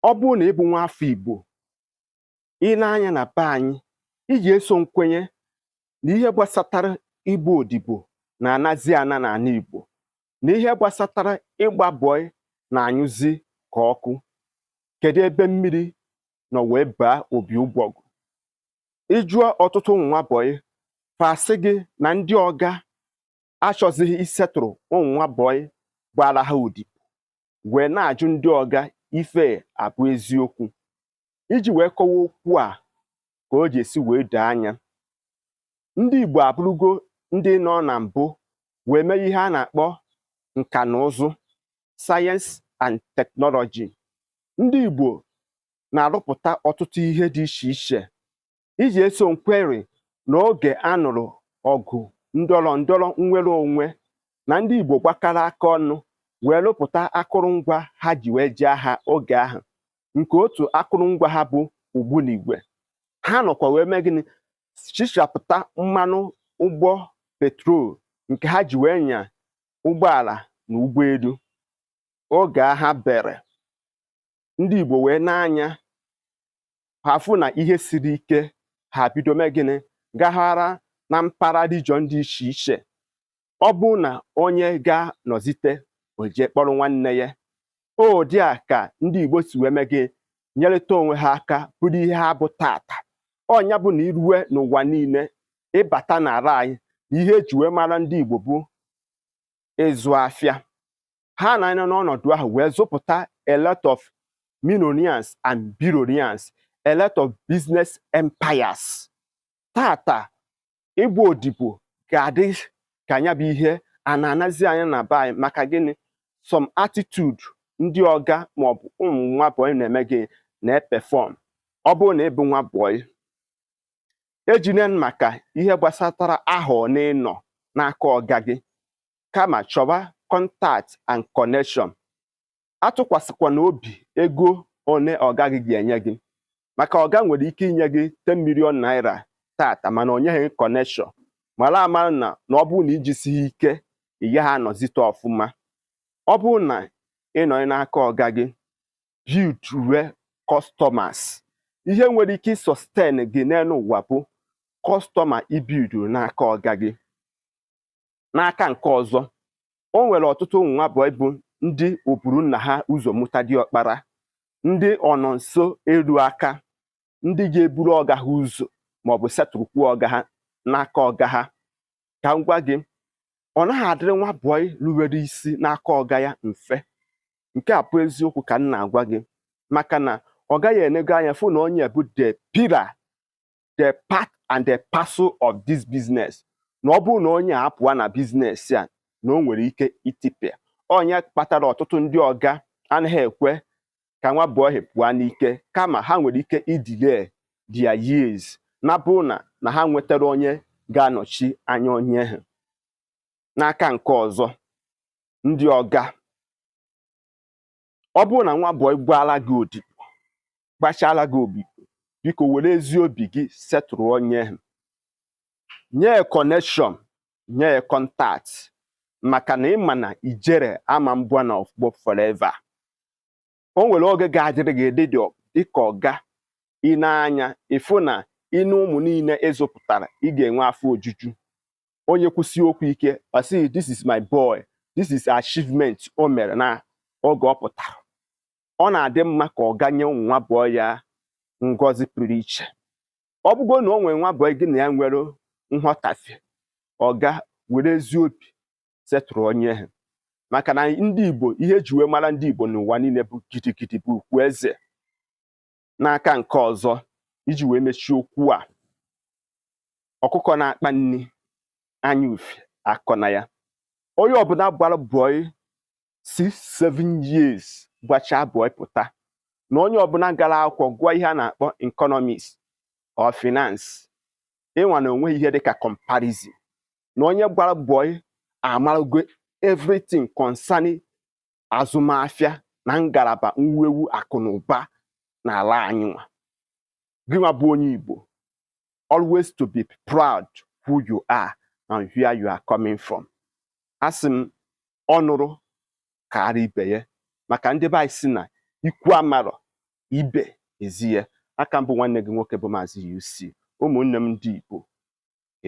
ọ bụrụ na ị bụ nwa afọ Igbo ị nee anya na be anyị i je-eso m kwenye na ihe gbasatara ịbụ odibo na-anazi ana n'ala Igbo na ihe gbasatara ịgba bọị na-anyụzi ka ọkụ kedu ebe mmiri nọ wee baa opi ụgbọgụ ị jụọ ọtụtụ ụmụ nwa bọị fa asị gị na ndị ọga achọzighị isetụrụ ụmụ nwa bọị gbaara ha odibo wee na-ajụ ndị ọga ife a bụ eziokwu iji wee kọwa okwu a ka o je-esi wee doo anya ndị Igbo abụrụgo ndị nọ na mbụ wee mee ihe a na-akpọ nka na ụzụ sayensị and teknọlọji ndị Igbo na-arụpụta ọtụtụ ihe dị iche iche i je-eso m kweri na oge a nụrụ ọgụ ndọrọ ndọrọ nnwere onwe na ndị Igbo gbakọrọ aka ọnụ wee rụpụta akụrụngwa ha ji wee jee agha oge ahụ nke otu akụrụngwa ha bụ ogbunigwe ha nọkwa wee mee gịnị chichapụta mmanụ ụgbọ petrol nke ha ji wee nya ụgbọala na ụgbọelu oge agha bere ndị Igbo wee nee anya ha afụ na ihe siri ike ha bido mee gịnị gagharịa na mpaghara region dị iche iche ọ bụrụ na onye gaa nọzite o jee kpọrọ nwanne ya ọ ụdị a ka ndị Igbo si wee mee gị nyerịta onwe ha aka bụrụ ihe ha bụ taata ọ nya bụ na i rue n'ụwa niile ị bata n'ala anyị na ihe e ji wee mara ndị Igbo bụ ịzụ afịa ha na-anọ n'ọnọdụ ahụ wee zụpụta a lot of millionaires and billionaires a lot of business empires taata ịgba odibo ga-adị ka nya bụ ihe a na-anazi ana na be anyị maka gịnị some attitude ndị ọga maọbụ ụmụ nwa bọyị na-eme gị na-epefọm ọ bụrụ na ị bụ nwa bọyị echene maka ihe gbasatara ahọ one ị nọ n'aka ọga gị kama chọba kọntakt and kọnekshọn atụkwasịkwana obi ego one ọga gị ga-enye gị maka ọga nwere ike inye gị 10 million naira taata mana o nyeghị kọnekshọn mara amara na ọ bụrụ na i jisighị ike ị gaghị anọzite ọfụma ọ bụrụ na ị nọ n'aka ọga gị builduwe customers ihe nwere ike ịsọsten gị n'elu ụwa bụ kọstọma i builduru n'aka ọga gị n'aka nke ọzọ o nwere ọtụtụ ụmụ nwa bọị bụ ndị oburu nna ha ụzọ mụta diọkpara ndị ọnọ nso eru aka ndị ga-eburu ọga ha ụzọ maọbụ setụrụkwu ọga ha n'aka ọga ha ka m gwa gị ọ naghị adịrị nwa bọị ruwere isi n'aka ọga ya mfe nke a bụ eziokwu ka m na-agwa gị maka na ọga gị enego anya fụ na onye bụ the pillar the part and the parcel of this business na ọ bụrụ na onye a apụwa na business a na o nwere ike itipịa ọ ya kpatara ọtụtụ ndị ọga anaghị ekwe ka nwa bọị ha pụọ n'ike kama ha nwere ike idelay their years na bụ na na ha nwetara onye ga-anọchi anya onye ahụ n'aka nke ọzọ ndị ọga ọ bụrụ na nwa bọị gbaala gị odibo gbachala gị odibo biko were ezi obi gị setụrụ onye ahụ nye ya connection nye ya contact maka na ị ma na ijere ama mbụ n'ofu ọgbọ forever o nwere oge ga-adịrị gị dị dịka ọga i nee anya ị fụ na i nee ụmụ niile ị zụpụtara ị ga-enwe afọ ojuju onye kwusie okwu ike ọ sị this is my boy this is achievement o mere na oge ọ pụtara ọ na-adị mma ka ọga nye ụmụ nwa bọị ya ngọzi pụrụ iche ọ bụgo na o nwere nwa bọị gị na ya nwere nghọtafie ọga were ezi obi setụrụ onye ahụ maka na ndị Igbo ihe eji wee mara ndị Igbo n'ụwa niile bụ gidigidi bụ ugwu eze n'aka nke ọzọ iji wee mechie okwu a ọkụkọ na-akpa nri anya ufe akọna ya onye ọbụla gbara bọị 6 7 years gbachaa bọị pụta na onye ọbụla gara akwụkwọ gụọ ihe a na-akpọ economics or finance ị ma na o nweghị ihe dịka comparison na onye gbara bọị amarago everything concerning azụmahịa na ngalaba mwuwe akụ na ụba n'ala anyị nwa gị nwa bụ onye Igbo always to be proud who you are and where you are coming from asị m ọnụrụ kaara ibe ya maka ndị be anyị sị na ikwu amarọ ibe ezi ya aka m bụ nwanne gị nwoke bụ Maazị UC ụmụnne m ndị Igbo ka